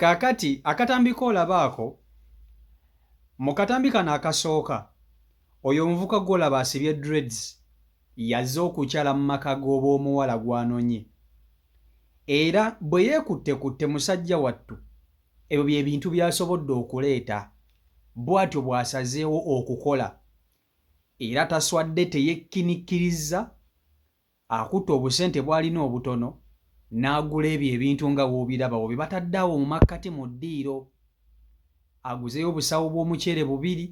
kaakati akatambi koolaba ako mu katambi kano akasooka oyo omuvuka gwolaba asibye dreads yazze okukyala mu maka g'oba omuwala gwanonye era bwe yeekutte kutte musajja wattu ebyo bye bintu byasobodde okuleeta bw'atyo bw'asazeewo okukola era taswadde teyekkinikirizza Akutte obusente bw'alina obutono n'agula ebyo ebintu nga w'obiraba awo bye batadde awo mu makkati mu ddiiro. Aguzeeyo obusawo bw'omuceere bubiri,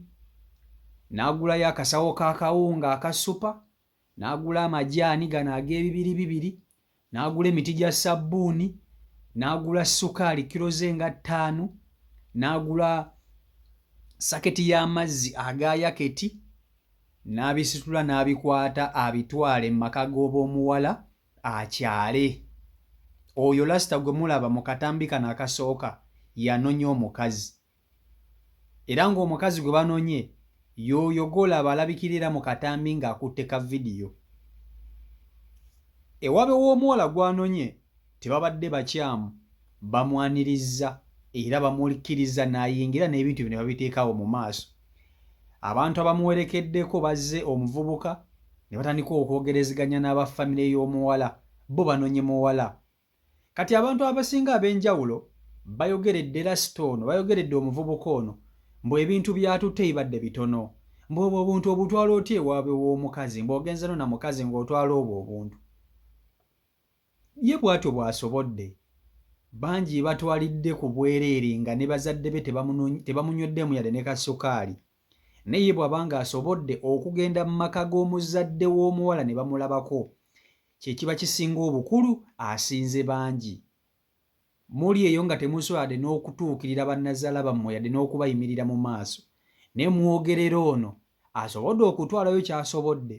n'agulayo akasawo k'akawunga aka supa, n'agula amajaani gano ag'ebibiribibiri, n'agula emiti gya ssabbuuni, n'agula ssukaali kkiro ze nga ttaano, n'agula saketi y'amazzi aga yaketi. n'abisitula n'abikwata abitwale mu maka g'ob'omuwala akyale. Oyo lasita gwe mulaba mu katambi kano akasooka yanonya omukazi era ng'omukazi gwe banonye y'oyo gw'olaba alabikira era mu katambi ng'akutte ka vidiyo. Ewabe w'omuwala gwanonye tebabadde bakyamu bamwanirizza era bamulkiriza nayingira n'ebintu bino babiteekawo mu maaso abantu abamuwerekeddeko bazze omuvubuka ne batandika okwogerezeganya n'aba famire y'omuwala bo banonye muwala kati abantu abasinga ab'enjawulo bayogeredde lasita ono bayogeredde omuvubuka ono mbu ebintu byatutte bibadde bitono mbu obwo obuntu obutwala otya ewaabwe w'omukazi mbu ogenzeno na mukazi ng'otwala obwo obuntu Ye bwatyo bwasobodde bangi batwalidde ku bwereere nga ne bazadde be tebamunyweddemu yadde ne ka sukaali naye ye bwaba nga asobodde okugenda mu maka g'omuzadde w'omuwala ne bamulabako kye kiba kisinga obukulu asinze bangi. Muli eyo nga temusobola yadde n'okutuukirira bannazaala bammwe yadde n'okubayimirira mu maaso, naye mwogerera ono asobodde okutwalayo ky'asobodde.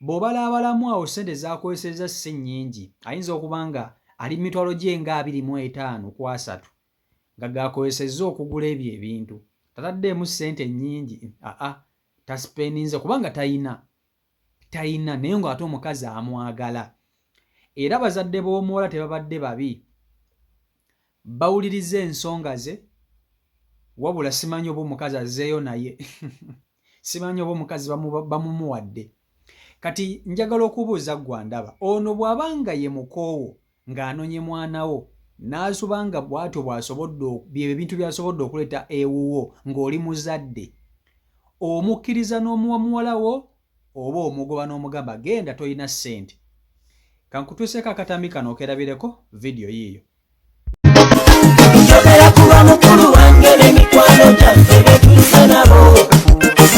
Bw'obalaabalamu awo ssente z'akozesezza ssi nnyingi, ayinza okuba nga ali mu mitwalo gye nga abiri mu etaano ku asatu nga g'akozesezza okugula ebyo ebintu. Tataddeemu ssente nnyingi, a-a, tasipendinze kubanga talina. talina naye nga ate omukazi amwagala era bazadde b'omuwala tebabadde babi bawuliriza ensonga ze wabula simanyi oba omukazi azeeyo naye simanyi oba omukazi bamumuwadde kati njagala okubuuza ggwandaba ono bw'aba nga ye mukoowo ng'anonye mwana wo n'asuba nga bwatyo bw'asobodde byebyo ebintu by'asobodde okuleeta ewuwo ng'oli muzadde omukkiriza n'omuwa muwala wo oba omugoba n'omugamba genda tolina ssente kankutuuseeko akatambi kano okerabireko vidiyo yiiyo njogera kuba mukulu wange n'emikwano gyaffe betuusa nabo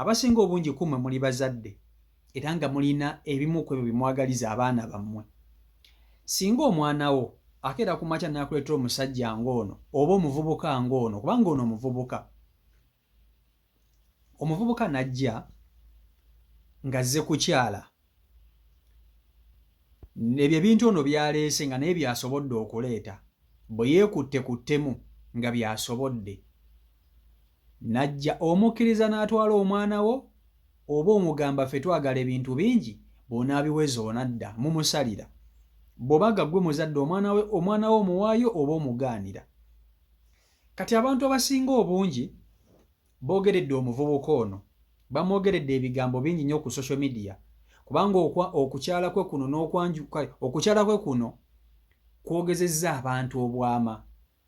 Abasinga obungi ku mmwe muli bazadde era nga mulina ebimu ku ebyo bye mwagaliza abaana bammwe. Singa omwana wo akeera ku makya n'akuleetera omusajja ng'ono oba omuvubuka ng'ono, kubanga ono omuvubuka, omuvubuka n'ajja ng'azze kukyala ebyo ebintu ono byaleese nga naye byasobodde okuleeta bwe yeekutte ku ttemu nga byasobodde najja omukkiriza n'atwala omwana wo oba omugamba ffe twagala ebintu bingi bw'onaabiweza onadda mumusalira bw'oba ga ggwe muzadde omwana we omwana we omuwaayo oba omugaanira kati abantu abasinga obungi Boogeredde omuvubuka ono bamwogeredde ebigambo bingi nnyo ku social media kubanga okukyala kwe kuno n'okwanju kale okukyala kwe kuno kwogezezza abantu obwama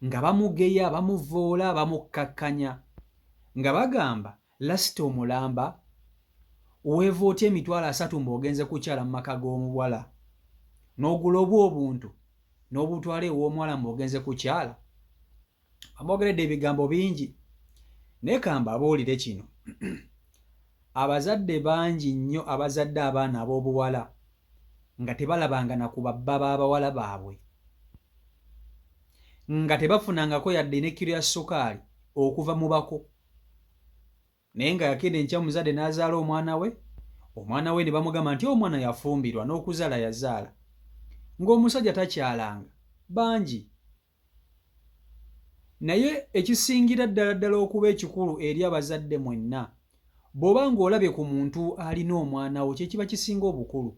nga bamugeya, bamuvvoola, bamukkakkanya nga bagamba lasita omulamba weeva otya emitwalo asatu mbu ogenze kukyala mu maka g'omuwala n'ogula obwo obuntu n'obutwala ew'omuwala mbu ogenze kukyala bamwogeredde ebigambo bingi naye kambabuulire kino abazadde bangi nnyo abazadde abaana ab'obuwala nga tebalabanga na ku babba b'abawala baabwe nga tebafunangako yadde n'ekkiro ya sukaali okuva mu bako naye nga yakenda enkya omuzadde n'azaala omwana we omwana we ne bamugamba nti omwana yafumbirwa n'okuzaala yazaala ng'omusajja takyalanga bangi Naye ekisingira ddala ddala okuba ekikulu eri abazadde mwenna, bw'oba ng'olabye ku muntu alina omwana wo kye kiba kisinga obukulu.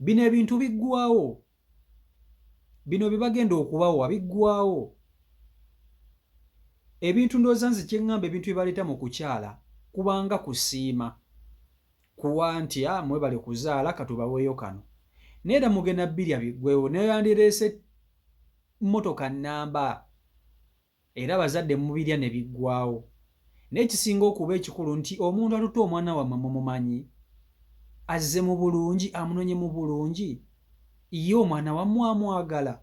Bino ebintu biggwaawo, bino bye bagenda okubawa biggwaawo. Ebintu ndowooza nze kye ŋŋamba ebintu bye baleeta mu kukyala kubanga kusiima, kuwa nti ah, mwebale kuzaala katubaweeyo kano. Naye era mugenda birya biggweewo n'oyandireese mmotoka nnamba era abazadde mubirya ne biggwaawo naye ekisinga okuba ekikulu nti omuntu atutte omwana wammwe mumumanyi, azze mu bulungi, amunonye mu bulungi, ye omwana wammwe amwagala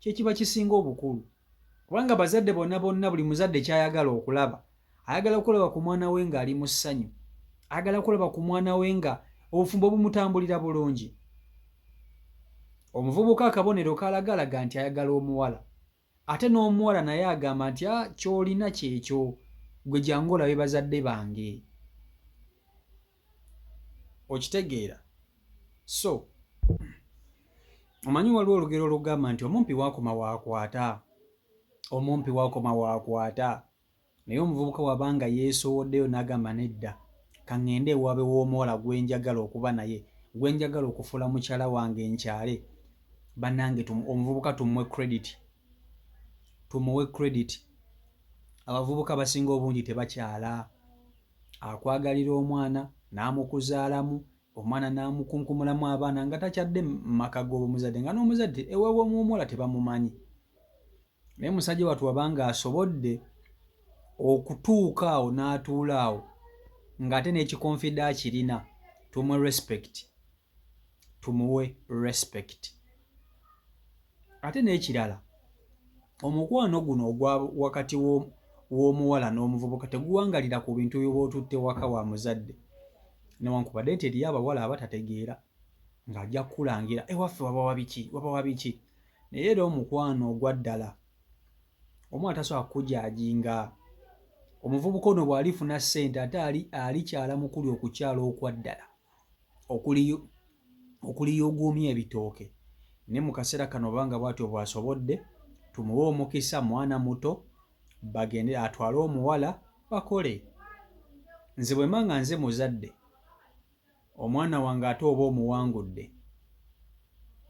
kye kiba kisinga obukulu kubanga abazadde bona bonna buli muzadde ky'ayagala okulaba ayagala kulaba ku mwana we ng'ali mu ssanyu ayagala kulaba ku mwana we nga obufumbo bumutambulira bulungi omuvubuka akabonero kalagalaga nti ayagala omuwala ate n'omuwala naye agamba nti ah, kyolina kyekyo gwe jangu olabe bazadde bange okitegeera so omanyi waliwo olugero olugamba nti omumpi wakoma wakwata omumpi wakoma wakwata Naye omuvubuka waba nga yeesowoddeyo n'agamba nedda ka ŋŋende ewaabe w'omuwala gwe njagala okuba naye, gwe njagala okufuula mukyala wange nkyale, bannange tu, omuvubuka tumuwe credit. Tumuwe credit. Abavubuka abasinga obungi tebakyala. Akwagalira omwana, n'amukuzaalamu, omwana n'amukunkumulamu abaana nga takyadde mu maka g'obumuzadde nga n'omuzadde ewaabwe w'omuwala tebamumanyi. naye musajja watu wabanga asobodde okutuuka awo n'atuula awo ng'ate n'ekikonfida akirina tumuwe respect tumuwe respect ate n'ekirala omukwano guno ogwa wakati w'omuwala n'omuvubuka teguwangalira ku bintu byoba otutte waka wa muzadde newankubadde nti eriyo abawala abatategeera ng'ajja kukulangira ewaffe eh, wabawabiki wabawabiki naye era omukwano ogwa ddala omu atasobola kukujaajinga omuvubuka ono bw'alifuna ssente ate ali alikyala mukuli okukyala okwa ddala okuliyuguumya ebitooke ne mu kaseera kano obanga bw'atyo bw'asobodde tumuwe omukisa mwana muto bagende atwale omuwala bakole nze bwe mba nga nze muzadde omwana wange ate oba omuwangudde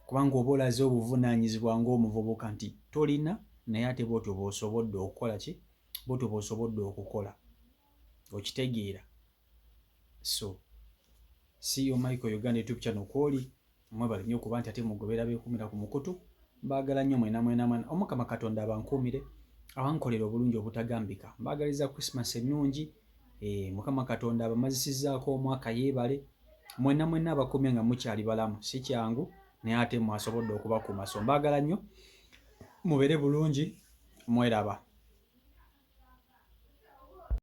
kubanga oba olaze obuvunaanyizibwa ng'omuvubuka nti tolina naye ate bwotyo bw'osobodde okukola ki bwotyo bw'osobodde okukola okitegeera so si yo michael uganda youtube channel kwoli mwebale nnyo okuba nti ate mugobera bekumira ku mukutu mbaagala nnyo mwena mwena mwena omukama katonda abankuumire abankolera obulungi obutagambika mbaagaliza christmas ennungi eh, mukama katonda abamazisizaako omwaka yeebale mwena mwena abakumye nga mukyali balamu si kyangu naye ate mwasobodde okubakuuma so mbaagala nnyo mubeere bulungi mweraba